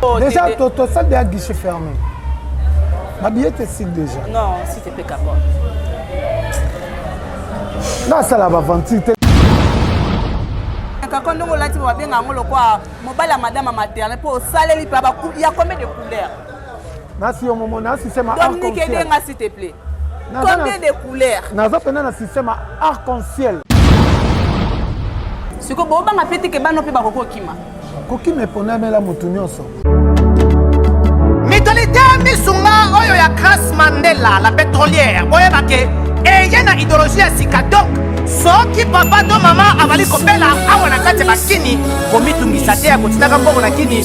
Oh, déjà, tu as ça déjà guichet fermé. Ma billette est signe déjà. Non, si t'es pas capable. Non, ça la va vendre. kaka ndenge olati babenga yango lokola mobali ya madame ya materne mpo osaleli mpe ya combien de couleur nasi yo momo nasi sema dominique edenga s'il te plaît combien de couleurs naza pena na système arc en ciel sikoyo bobanga mpe teke bano mpe bakoki kokima kokima eponamela motu nyonso mitolite misunga oyo ya grace mandela la pétrolière boyeba ke eye na idéologie ya sika donc soki papa to mama azali kobela awa na kati ya bakini komitungisa te ya kotindaka mbongo na kini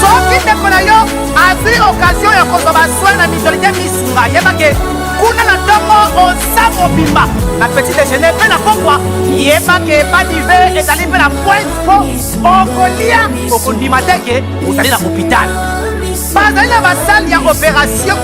soki ndeko na yo azwi okazio ya kozwa baswin na mitolite misunga yebake kuna na ntongo oza mobimba na petit dejeuner mpe na pokwa yebake badive ezali mpe na pointe mpo okolia okondima te ke ozali na hôpital bazali na basale ya opération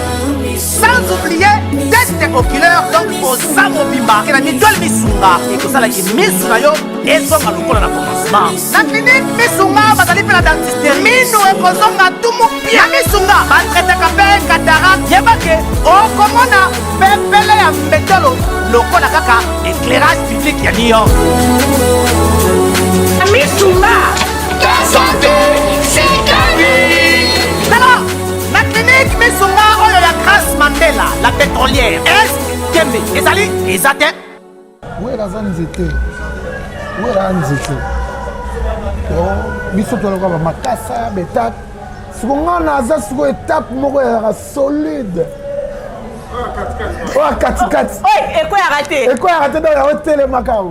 sans oublier teste oculaire donc oza mobimba ke na mitole misunga ekosala ki misu na yo ezonga lokola na commencement natindi miso nga bazali mpe na dentiste mino ekozonga tumu pia na miso nga batretaka mpe katarak yebake okomona pepele ya mbetolo lokola kaka éclairage public ya new york na miso nga kasante sikani tala na klinike miso nga oyo ya grace mandela la pétrolière est kembe ezali eza te wera aza nzete wera a nzete oh, biso tolaka bamakasa betape siko nga naza siko etape moko ezalaka solide oyo katikati ekweyaka te ekweyaka te donc yango telemaka o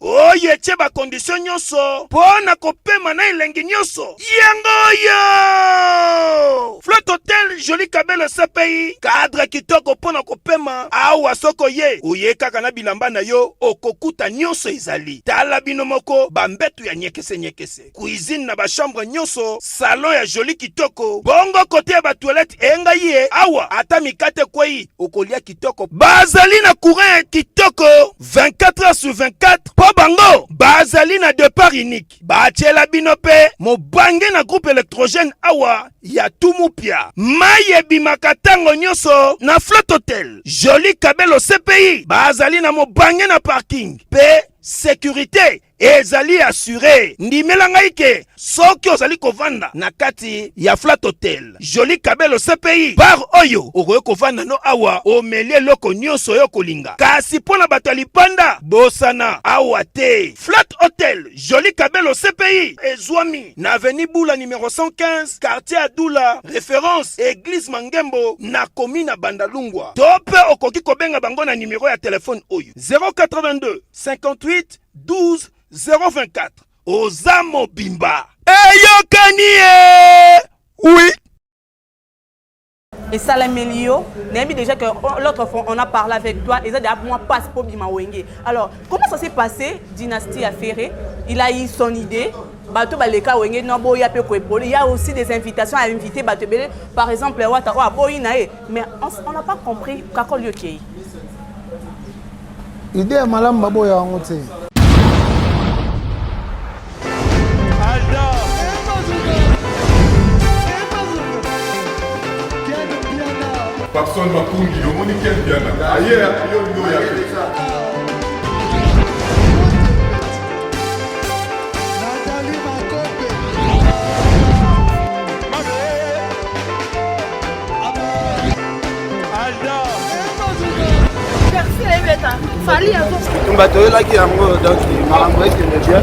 oyo etye bakondisio nyonso mpo na kopema na elengi nyonso yango oyo flot hotel joli kabelo cpi kadre kitoko mpo na kopema awa soko ye oye kaka na bilamba na yo okokuta nyonso ezali tala bino moko bambetu ya nyekesenyekese cuisine na ba chambre nyonso, salon ya joli kitoko, bongo kote ya ba toilette enga ye awa ata mikate kwei okolia kitoko. Bazali na courant ya kitoko 24 heures sur 24 po bango bazali na depart unique. Batiela bino pe mobange na groupe electrogène awa ya Tumupia. Mai ebimaka tango nyonso na Flotte Hotel. Joli Kabelo CPI bazali na mobange na parking pe securite Ezali assure. Ndimela ngai ke soki ozali kovanda na kati ya Flat Hotel, Jolie Cabelo CPI, bar oyo okoki kovanda no awa omeli eloko nyonso yo kolinga. Kasi mpo na bato ya lipanda, bosana awa te. Flat Hotel Jolie Cabelo CPI ezwami na avenue Bula numero 115, quartier Adula, reference Eglise Mangembo na komi na Bandalungwa. To mpe okoki kobenga bango na numero ya telefone oyo 082 58 12 024 oza mobimba eyokani ye oui esalameli yo nayebi déjà que l'autre fois on a parlé avec toi eza deja mwa passe mpo bima wenge alors comment ça s'est passé dynastie ya ferre il a eu son idée bato baleka wenge no aboya mpe koepole ya aussi des invitations à inviter bato ebele par exemple wata oyo aboyi na ye mais on n'a pas compris kakol yo kei ide ya malamu baboya yango te Papson Makundi, le monde qui aime bien. Ailleurs, il y a tumba toyelaki yango donc makambo ekende bien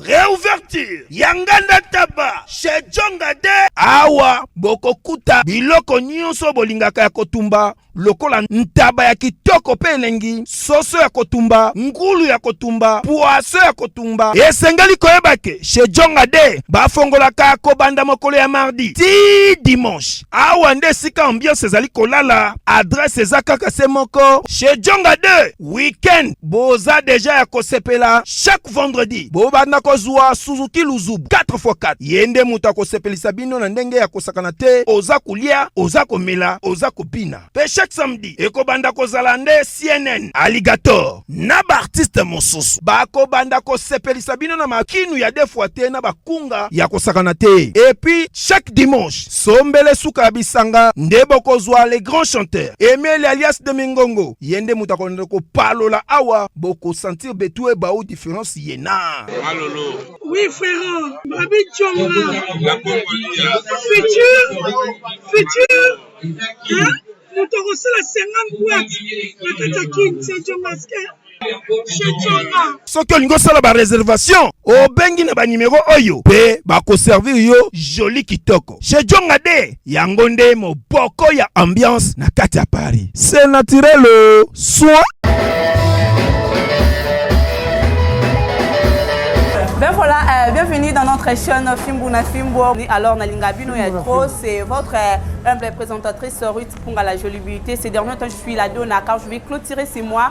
Reouverture ya nganda taba chez Jonga de awa bokokuta biloko nyonso bolingaka ya kotumba lokola ntaba ya kitoko mpe elengi, soso ya kotumba, ngulu ya kotumba, pwaso ya kotumba. Esengeli koyeba ke chez Jonga de bafongolaka kobanda mokolo ya mardi ti dimanche. Awa nde esika ambiance ezali kolala. Adresse eza kaka se moko chez Jonga de. weekend boza deja ya kosepela chaque vendredi bobanda kozwa suzuki luzubu 4x4 ye nde moto akosepelisa bino na ndenge ya kosakana te oza kolia oza komela oza kobina mpe chaque samedi ekobanda kozala nde cnn alligator na baartiste mosusu bakobanda kosepelisa bino na makinu ya defwa te na bakunga ya kosakana te epuis chaque dimanche sombele suka ya bisanga nde bokozwa le grand chanteur emeli alias de mingongo Ye nde moto akolanda kopalola awa boko sentir betue bao difference yena. Malolo. Oui frère, Babi Tshonga. La Congolia. Futur, futur, hein? Moto akosala 50 boîte na kati ya Kin, c'est Djongaske. soki olingi osala bareservation obengi na banimero oyo mpe bakoservir yo joli kitoko chez jonga de Yango nde moboko ya ambiance na kati ya Paris. C'est naturel euh, soin. Ben voilà, euh, bienvenue dans notre chaîne Fimbu na Fimbu. Alors, Nalinga Bino et trop, c'est votre euh, humble présentatrice Ruth Punga la Jolie Beauté. Ces derniers temps, je suis la dona car je vais clôturer ces mois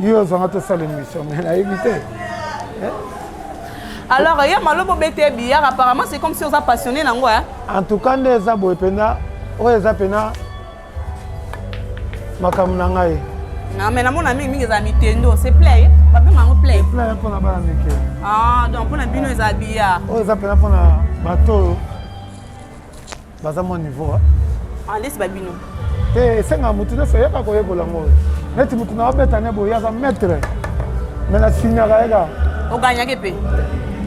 yo ozanga tosala émission mais nayebi te eh? alors ya malobo bete billard apparemment c'est comme si oza passionné nango hein? en tout cas nde eza boye mpenza oyo eza mpena makambo na ngai na me namona mingi mingi eza mitendo se play babenga yango play play mpona bana mike ah donc mpona bino eza billard oyo eza mpena mpona bato oyo baza mwa niveau ah, nde siba bino te esenga motu nyonso oyaka koyekola ngo neti motu na obeta ne boye aza maitre me na signaka yeka oganyaki mpe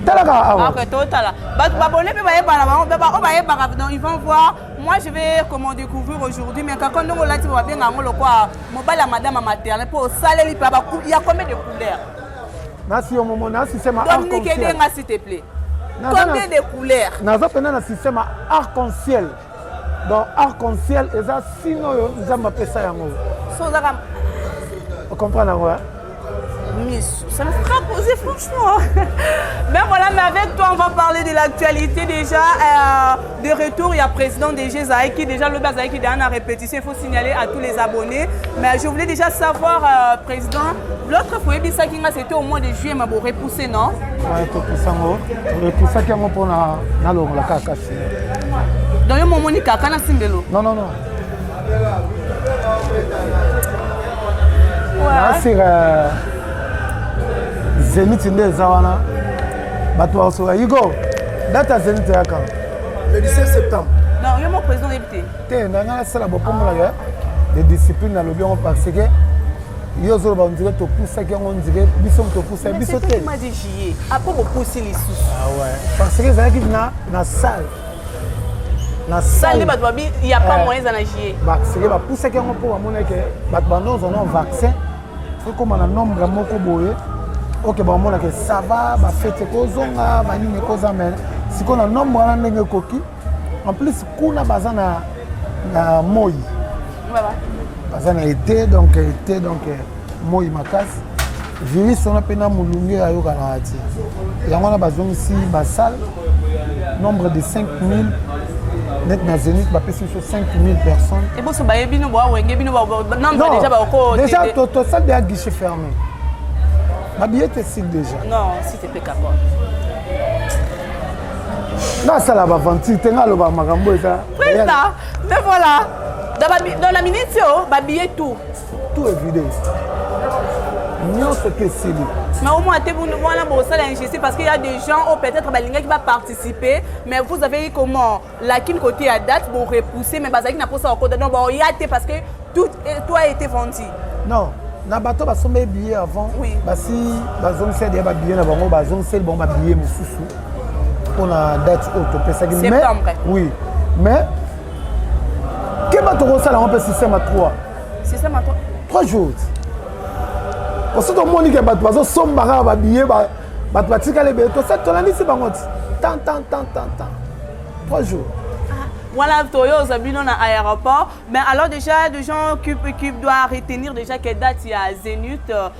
talaka awa ah, totala bato babone mpe bayebana bango mpe baoyo bayebaka donc ils vont voir moi je vais comment découvrir aujourd'hui mais kaka ndenge olati babenga yango lokwa mobali ya madame ya materne mpo osaleli mpe ya combien de couleur nasi yo momo nasi sema dominique aide nga s'il te plaît combien de couleurs naza pena na système ya arc en ciel donc arc en ciel eza sino oyo nzambe apesa yango so ozaka ocomprendre yango misu ça me fera poser franchement mais voilà mais avec toi on va parler de l'actualité déjà euh, de retour ya président DG ezalaki déjà lobi azalaki deja na répétition il faut signaler à tous les abonnés mais je voulais déjà savoir euh, président l'autre fois oyebisaki nga c'était au mois de juillet ma borepousse non topousa yango repoussaki yango mpo na nalongola kaka kasi donc yo momoni kaka na simbelo non non non nasika zeniti nde eza wana bato bakosoka yigo data zenit eyaka le 17 septembre non yo moko président oyebi te te na ngai nasala bopongolaka de discipline nalobi yango parce que yo ozoloba ondire topusaki yango ondire biso topusa biso te apo bopusi lisusu ah parce que ezalaki na salle na salle nde bato babi ya pa eh. moyen eza na jie parce que bapusaki yango mpo bamonaki bato bandonzona vaccin ekoma na nombre moko boye oke baomonaka esava bafete ekozonga banini ekoza me sikoyo na nombre wana ndenge ekoki en plus kuna baza na, na moi baza na ete donc ete donc moi makasi virus wana mpe na molunge ayokana te yango wana bazongisi basale nombre de 5000 net na zenith bapesi biso 5000 personnes eboso baye bino bowawenge bino nombre déjà bakoko déjà tosali deya guichet fermé babillet esili déjà non si te peka quoi nasala baventure te nga aloba makambo eza presta nde voilà dans la minute oyo babillet tout tout evide nyonso te esili mais au moins te wana bosala injustice parce qu'il y a des gens oyo peut-être balingaki baparticiper mais vous avez eu comment lakini côté ya date borepousser mais bazalaki na mposa bakota donc baoya te parce que tout toi a été vendu non na bato basombeli billet avant oui. basi bazongiseli deya babillet na bango bazongiseli bango babillet mosusu mpona date oyo topesaki oui mais keba tokosala yango mpe système a 3 3 jours osi tomoni ke bato bazosomba kaka babiye bato batikali ebele tolandisi bango ti tan tan tan tan tan 3 jours voilà toyo oza bino na aéroport mais alors déjà de gens qui, qui doit retenir déjà que date ya zénith euh,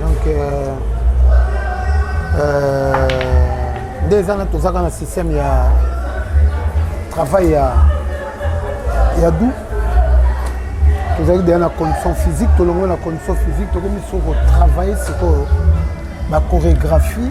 donc euh, euh, nde eza na tozaka na système ya travail ya ya du tozalaki deya na condition physique tolongwe na condition physique tokomi so kotravaille sikoyo bachorégraphie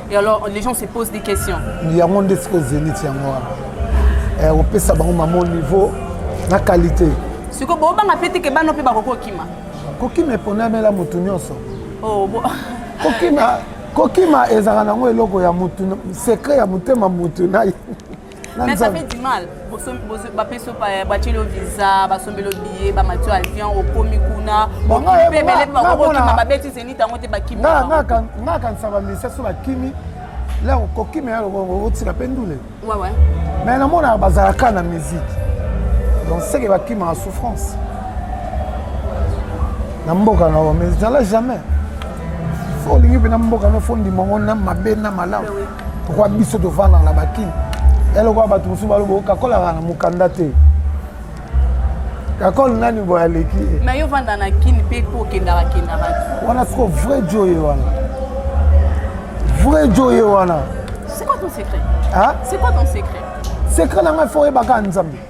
Et alors, les gens se posent des questions. yango nde sikoyo zenith yango wana Eh, opesa bango mama au niveau na qualité sikoyo bobanga mpe teke bana mpe bakoki kokima kokima eponamela motu nyonso Oh, bo- kokima kokima ezalaka nango eloko ya motu secret ya motema motu na ye Mais ça fait du mal. bapesi batieli yo visa basombeli yo biye bamati yo avion okomi kuna okipe bele mpe bakokima babeti zenit yango te bakimi nga kanisa bamisia so bakimi la kokima ya lokongo otika mpe ndule mais namonaka bazalaka na musique donc seke bakimaka souffrance na mboka na yo mais ezala jamais fo olingi mpe na mboka no fo ndima ngo na mabe na malamu pourkoi biso tovandaka na bakini eloko ya bato mosusu balobo kakolaka na mokanda te kakol nani boye aleki ye me yo vanda na kini mpe mpo okendaka kendaka wana siko vrai jo ye wana vrai jo ye wana c'est quoi ton secret c'est quoi ton secret secret na ngai fo oyebaka nzambe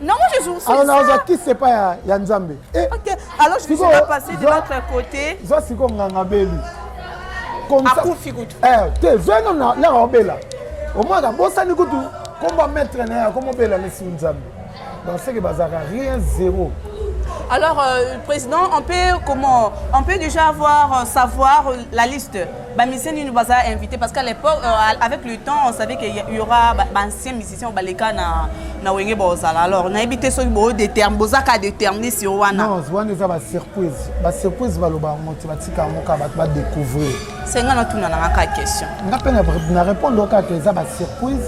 nango jesurzwa kisi epai ya nzambe eh, zwa siko nganga beli akufi kutu eh, te zwa ino laka obela omwana abosani kutu kombo maître na ye akoma obela lesi nzambe baseke bazalaka rien zéro Alors, euh, président, on peut comment On peut déjà avoir euh, savoir euh, la liste. Bamiseni nous a invité parce qu'à l'époque, euh, avec le temps, on savait qu'il y aura bah, bah, anciens musicien baleka na na wenge bozala alors nayebi te soki bo détermine bozaka déterminer sur wana non wana eza ba surprise ba surprise baloba yango ti batika yango kaka bato badécouvrir senga natuna nanga kaka question nga mpe na répondre kaka eza ba surprise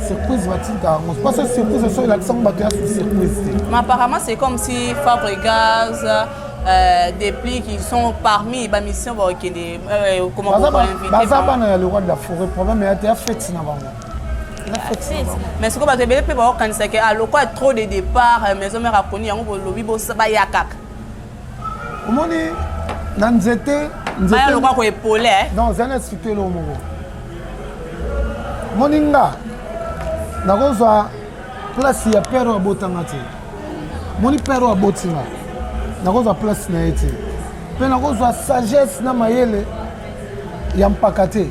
surprise batika yango mpasa surprise so elakisa yango bato ya surprise te mais apparemment c'est comme si fabre gaz Euh, des plis qui sont parmi ba mission ba okende euh, comment baza bana ya le roi de la forêt problème ya te ya fete na bango mais sikoyo bato ebele mpe baokanisa ke ah, lokola trop de départ euh, maison mare akoni yango bolobi baya kaka omoni na nzete baya lokola koepole eh? donc zali explike eloko moko moni nga nakozwa place ya pere oyo abotanga te moni pere oyo aboti nga nakozwa place na ye te mpe nakozwa sagesse na mayele ya mpaka te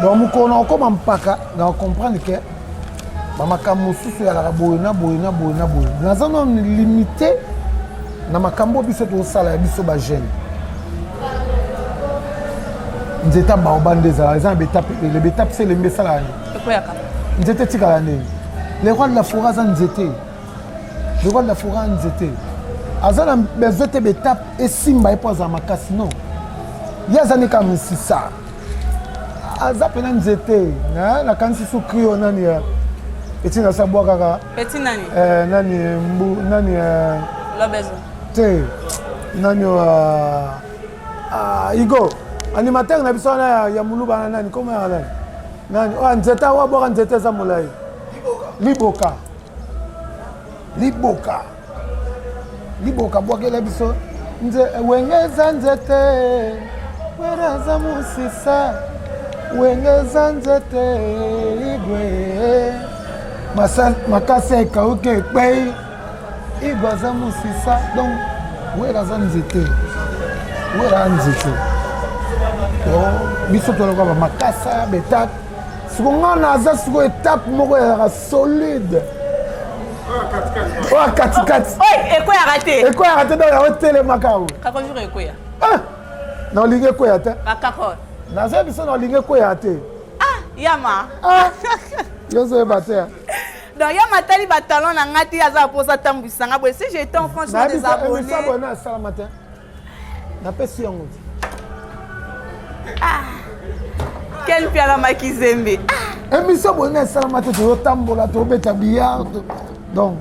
donc mokolo na okoma mpaka na ocomprendre ke bamakambo mosusu eyalaka boye na boye na boye na boye naza na limite na makambo biso tozosala ya biso bajeune nzete ya baoba nde ezala eza na betape ebele betape se elembi esalaka nini nzete etikala ndeni le roi de la foret aza nzete joval na fora nzete aza na besoin te betape esimba ye mpo azala makasi non ye aza nde kaka misisa aza mpena nzete nakanisi sukri oyo nani ya eti nasabwa kaka eh, nani eh, mbu nani eh, te nani oyo ah, ah, igo animateur na biso wana ya muluba na nani koma ya nani nani oyo oh, nzete awa bwaka nzete eza molai liboka liboka liboka bwakela biso nze wenge eza nzete wera aza mosisa wenge eza nzete igwe makasi ekauki ekpei igwe aza mosisa donc wera aza nzete wera aza nzete biso toloka bamakasa betape siko ngai naza siko etape moko ya solide oyo katikati ekweyaka te ekweyaka te donc yango telemaka o kakojur ekweya ah! na olingi ekweya te bakako naza biso na olingi ekweya te ah, yama ah! yozoyeba te donc ya matali batalon na ngai te aza mposa atambwisa ngai boye si j'étais en france des abonnés napesi yango te ah. ken piala makizembe ah. emission boye na esalama te toyotambola tobeta billard donc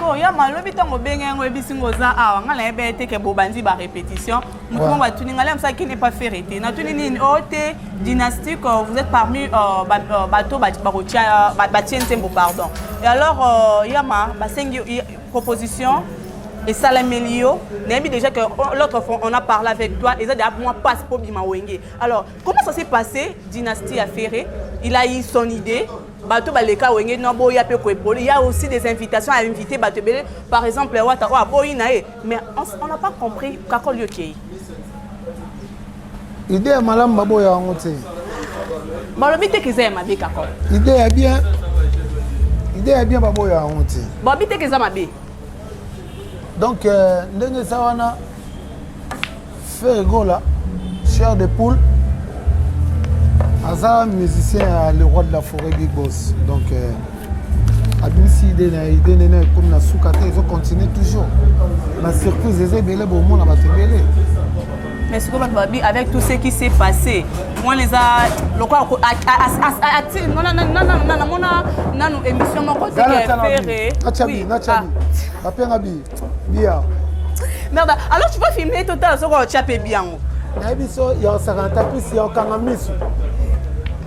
sikoyo ya malobi ntango obenge yango oyebisi ngo oza awa ngai nayebi ete ke bobandi barépétition motu moko atuni ngai lamsa qui n'est pas ferre te natuni nini o te dynastique euh, vous êtes parmi euh, euh, bato bakotia batie nzembo pardon et alors yama basengi proposition esalameli yo nayebi déjà que l'autre fois on a parlé avec toi eza déjà moi passe po bima wenge alors comment ça s'est passé dynastie ya ferre il a eu son idée bato baleka wenge no boya mpe koepoli ya aussi des invitations à inviter bato ebele par exemple wata oyo aboyi na ye mais on n'a pas compris kakoli okei Idée ya malamu baboya yango te. Balobi te kiza ya mabe kako. Idée ya bien. Idée ya bien baboya yango te. Balobi te kiza mabe. Donc euh, ndenge eza wana Ferregola, cher de poule, aza musicien ya le roi de la forêt Big Boss. Donc euh, abimisi ide na ide nde na ekomi na suka te ezo continue toujours na surprise eza ebele bomona bato ebele mais sikoyo bato babi avec tout ce qui s'est passé mwana eza lokola namona nanu émission moko teferre bapenga bi bia merde alors tu peux filmer total soko otya mpe bi yango nayebi so ya osakana tapisi ya okanga misu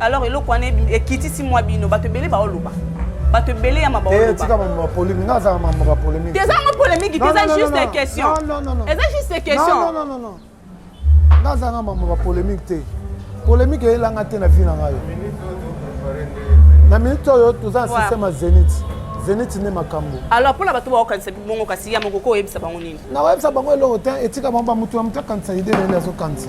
alors eloko wana ekitisi mwa bino bato ebele baoloba bato ebele ya mabatika mamama polémique nga azaka mamama ba polémique eza yango polémique te eza juste question eza juste question nga azaka mamama ba polémique te polémique eyelanga te na vie na ngai na minute oyo toza na système ya zénith zeniti nde makambo alors mpo na bato baokanisa bongo kasi ya moko ko oyebisa bango nini nakoyebisa bango eloko te etika bango bamoto ya moto akanisa ide nani azokanisa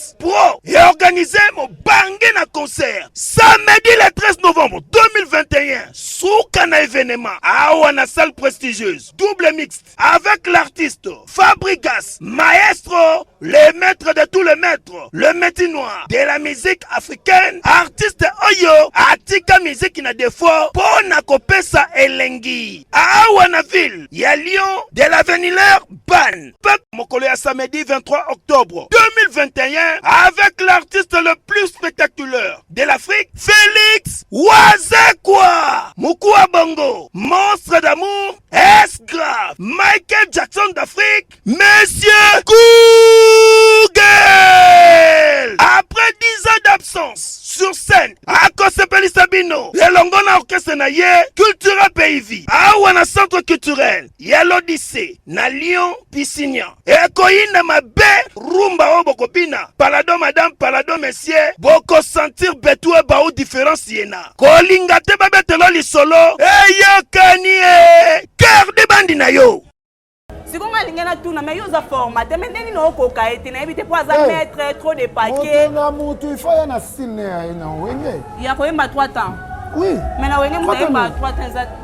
Fete Pro et organisé mobange na concert samedi le 13 novembre 2021 suka na événement awa na salle prestigieuse double mixte avec l'artiste Fabrigas maestro le maître de tous les maîtres le métier noir de la musique africaine artiste oyo atika miziki na défaut mpo na kopesa elengi awa na ville ya Lyon de la Venileur Ban Fête mokolo ya samedi 23 octobre 2021 avec l'artiste le plus spectaculaire de l'Afrique, Félix Wazekwa, Mukua Bongo, Monstre d'amour, S grave, Michael Jackson d'Afrique, Monsieur Google. Après 10 ans d'absence sur scène, akosepelisa bino elongo na orchestre na ye Cultura Pays Vie, awa na centre culturel ya lodise na lion pisinia ekoyinda mabe rumba oyo bokobina palado madame palado monsieur bokosentir betue bau diference yena kolinga te babetelo lisolo eyokani e cœur de bandi na yo siko ngai alingi natuna mai yo oza formate mai ndenge nini okoka ye te nayebi te mpo aza eh, maître trop de paquet na motu ifo ya na style ne ya ye na wenge ya koyemba 3 temps oui mai na wenge moto ayemba 3 temps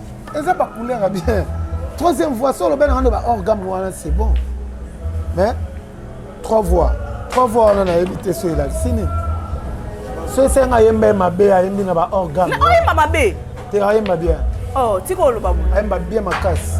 eza ba couleur bien troisième voix solo bana ngando ba hors gamme wana c'est bon mais trois voix trois voix wana nayebi te so elakisi nini so esenga ayemba ye mabe ayembi na ba hors gamme oyemba mabe te ayemba bien oh tika oloba boye ayemba bien makasi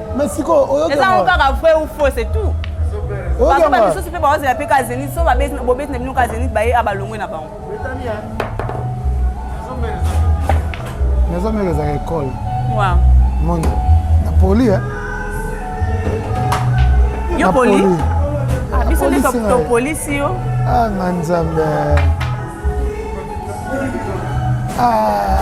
Mais sikoyo oyoki eza yango kaka vrai ou faux c'est tout bato bamisusu mpe baozela mpe ka zenit so bobeti na bino ka zenit baye a balongwe na bango nazomela ezaka ekole moni na poli eh? yo poli ah, biso nde topolisi yo ah, nga nzambe ah.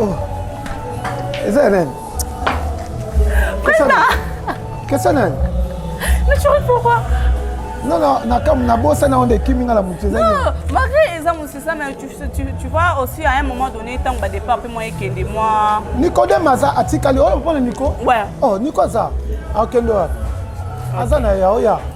Oh. Eza ya nani? Kesa nani? Naturel pourquoi? Non, non, nakam na bossa na onde kimi nga la mutu eza. Non, malgré eza mutu ça mais tu, tu, tu vois aussi à un moment donné tant que départ pe moi ekende moi. Nico de maza atikali oyo oh, pona Nico? Ouais. Oh, Nico aza. Akendo. Aza na ya oya. Oh,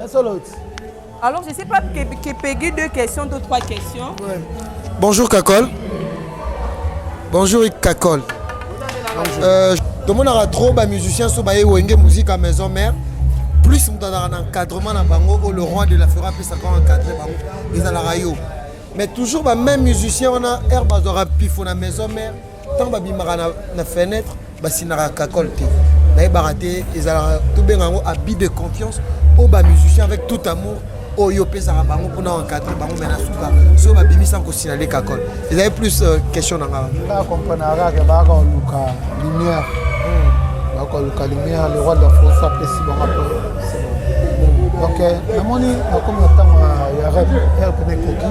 Ya solo ti. Alors je sais pas que, que Peggy deux questions, deux trois questions. Ouais. Bonjour Kakol. Bonjour Kakol. Bonjour. Euh, tomonaka trop bamusicien so baye wenge musique à maison mère plus moto azalaka na encadrement na bango oyo le roi de la fera apesaka encadre bango ezalaka yo mais toujours bameme musicien wana aire bazwaka pifo na maison mère ntango babimaka na, na fenetre basinaka kakole te nayebaka te ezalaka tobenga yango abus de confiance oyo bamusicien avec tout amour oyo opesaka bango mpona encadre bango me na suka soki babimisa kosinale kakole ezali plus euh, question na ngaa nga comprenaka ke baka koluka lumière hmm. baka koluka lumière le roi de la france apesi bango po donc euh, namoni nakomi na ntango ya rep elpene koki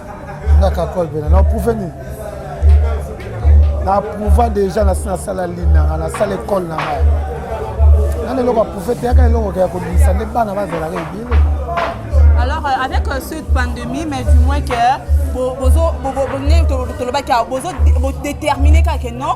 nga kakol pena na prouve nini na prouva déjà nasi nasala lini nanga nasala ekole na ngai nani eloko aprouve te yaka eloko ya kobimisa nde bana bazalaka ebele alors euh, avec euh, cette pandémie mais du moins que tolobaki déterminer kaka non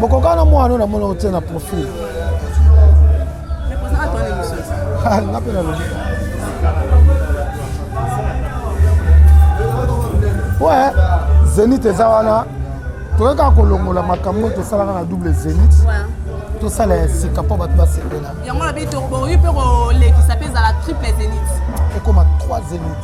bokokana mwana oyo namona otie na profil ah, nga mpe nalobi we zenit eza wana toyei kaka kolongola makambo oyo tosalaka na double zenit tosala ya sika mpo bato basepela yango na biso bokoki mpe kolekisa mpe ezala triple zenit ekoma 3 zenit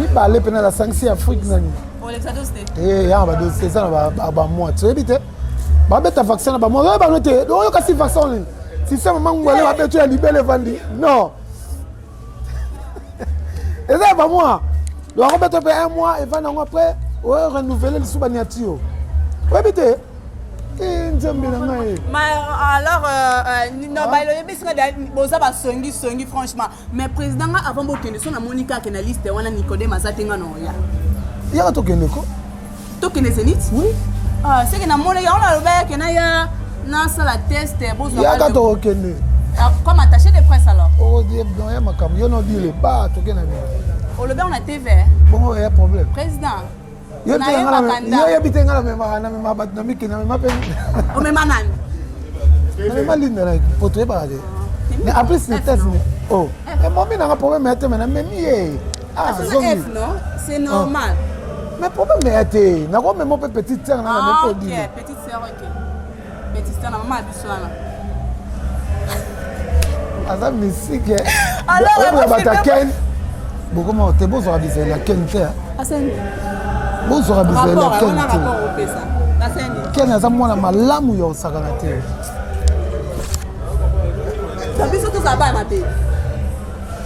mibale mpena na sangisi ya afrique nani eh, ya badosi eza na bamwa toyebi te babeta vaccin na bamwa oyo bano te oyo kasi vaccin nini systeme mangu ale babeto ya libele evandi non eza ya bamwa bakobeta mpe un mois evandi yango après oyo renouvele lisusu baniatio oyebi te eh, nzambe na ngai alors euh, euh, nobaloyebisinga boza basongisongi franchement mais président nga avant bokende so namoni kaka ke na liste wana nicodème aza te nga na oya yaka tokende ko tokende zenit oui ah, seke namoni yango nalobaki ke naya nasala test bozwayaka tokokende ah, comme attaché de presse alors okodie oh, doyen makambo yo nodile ba toke na bino olobi yango na tv bongo eya problème président yo te nga na yo yebi te nga na mema na mema bato na miki na mema pe o mema nani na mema linda na poto yebaka te mais en plus ne test ne oh mais momi nanga problème ya te mais na memi ye ah zomi non c'est normal ah. mais problème ya te nakomema pe petite sœur na na meko dina petite sœur ok Betista na mama biso wana. Aza misike. Alors ya bata Ken. Bokoma te bozwa bizela Ken te. Asani. Bozwa bizela Ken te. Ken aza mwana malamu ya osakana te. Biso tozala bana mabe.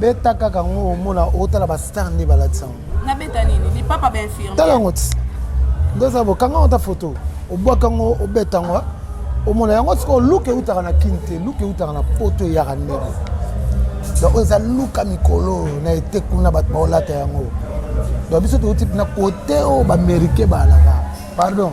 beta kaka ngo omona otala ba star nde balatisa ngo na beta nini lipapa ba infirmier tala ngo ti nde eza bokanga ngo ta photo obwaka ngo obeta ngo omona yango sikoyo luka eutaka na kini te luka eutaka na poto eyaka ndenge donc oyo eza luka mikolo na ete kuna bato baolata yango donc biso touti na kote oyo baaméricain baalaka pardon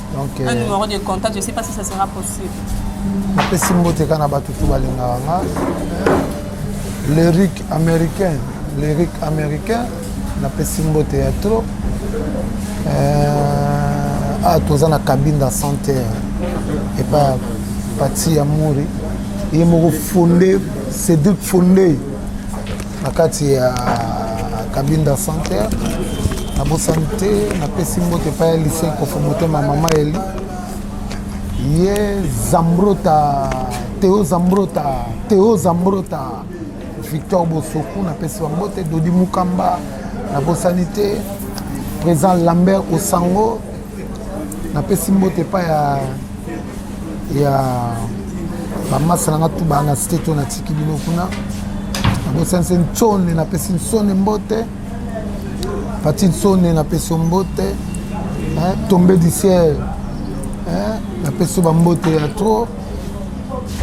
Okay. Un numéro de contact, je sais pas si ça sera possible. napesi mbote kaka na bato tu balingaka nga lyrique américain lyrique américain napesi mbote ya trop euh, ah toza na kabinda santé epa pati ya mori ye moko fonde cédric fonde na kati ya kabinda center nabosani te napesi mbote epai ya lise kofo motema mama eli ye zambrota teo zambrota teo zambrota victor bosoku napesi bango te dodi mukamba nabosani te président lambert osango napesi mbote epai ya ya bamasa na nga tu baa na site to natiki bino kuna nabosanise nsone napesi nsone mbote pati nsone napesi mbote tombe du ciel napesi yo bambote ya trop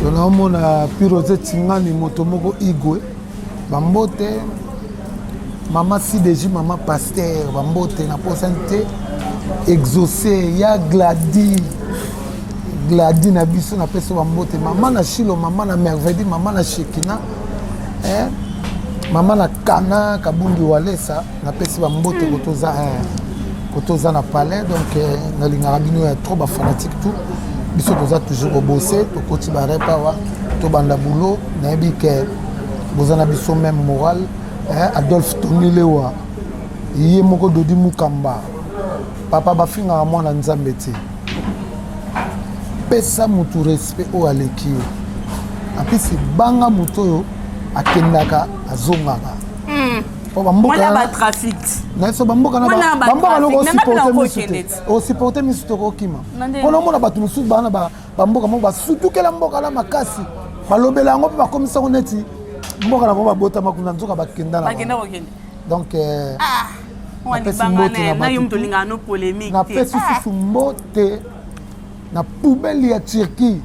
to naomona pirose tingani moto moko igwe bambote mama sideji mama paster bambote na posani te exauce ya gladi gladi na biso na peso bambote mama na shilo mama na mervedi mama na shekina eh? mama na kana kabundi walesa napesi bambote hmm. kotoza eh, kotoza na palais donc eh, nalingaka bino ya trop bafanatique tout biso toza toujours kobose tokoti barepa wa tobanda boulot nayebi ke boza na biso meme moral eh, adolphe tony lewa ye moko dodi mukamba papa bafingaka mwana nzambe te pesa motu respect oyo aleki yo apesi banga moto oyo akendaka azongaka hmm. po bambokanaiso bamboka loko osiporte misu te osiporte misu tokokima mpo naomona bato mosusu bana bamboka moko basutukela mboka na makasi balobela yango mpe bakomisa yango neti mboka na bango babotama kuna nzoka bakenda na donc euh, ah, napesi susu mbote na poubele ya turquie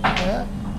eh?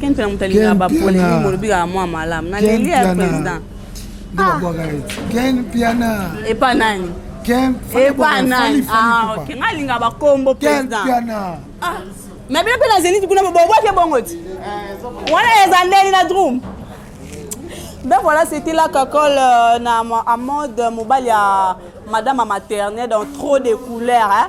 Ken Mpiana moto alingaka ba polemique molobi kaka mwa malamu na leli ya président nde babwaka ye Ken Mpiana epa nani Ken epa nani ah ok nga linga ba kombo président Ken Mpiana ah mais bino mpe na zenith kuna bobwaki ebongo ti eh, wana eza ndeni na drum ben voilà c'était la kakole euh, na amode mobali ya madame maternelle dans trop de couleurs hein?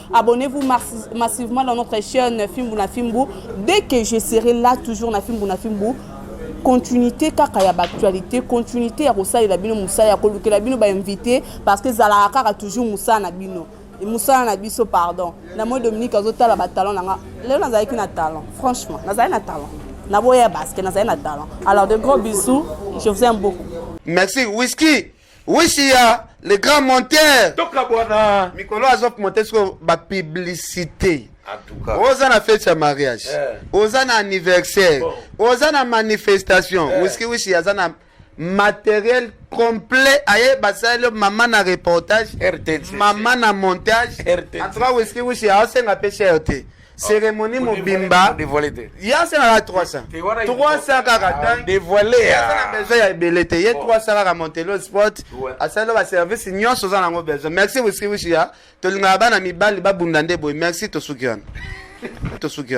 Abonnez-vous massivement dans notre chaîne Fimbu na Fimbu. Dès que je serai là, toujours na Fimbu na Fimbu, continuité kaka ya actualité, continuité ya kosalela bino mosala ya kolukela bino ba invité parce que ezalaka kaka toujours mosala na bino mosala na biso pardon na moi dominique azotala batalon na nga lelo nazalaki na talent franchement nazali na talent naboya basket nazali na talent alors de gros bisous je vous aime beaucoup merci whisky wisi ya le grand monteur tokabwana mikolo azop monte siko bapublicité oza na fete ya mariage eh. oza na anniversaire oza na manifestation eh. wiski wisi aza na matériel complet aye basaleli mama na reportage mama na montage en tout cas wiski wisi aosenga mpe cher te cérémonie mobimba ya asalaka 300 300 kaka tanna besoin ya ebele te ye 300 kaka montelo sport asali baservice nyonso oza nango besoin merci wisiwisi ya tolingaka bana mibali babunda nde boye merci tosuki wana tosuki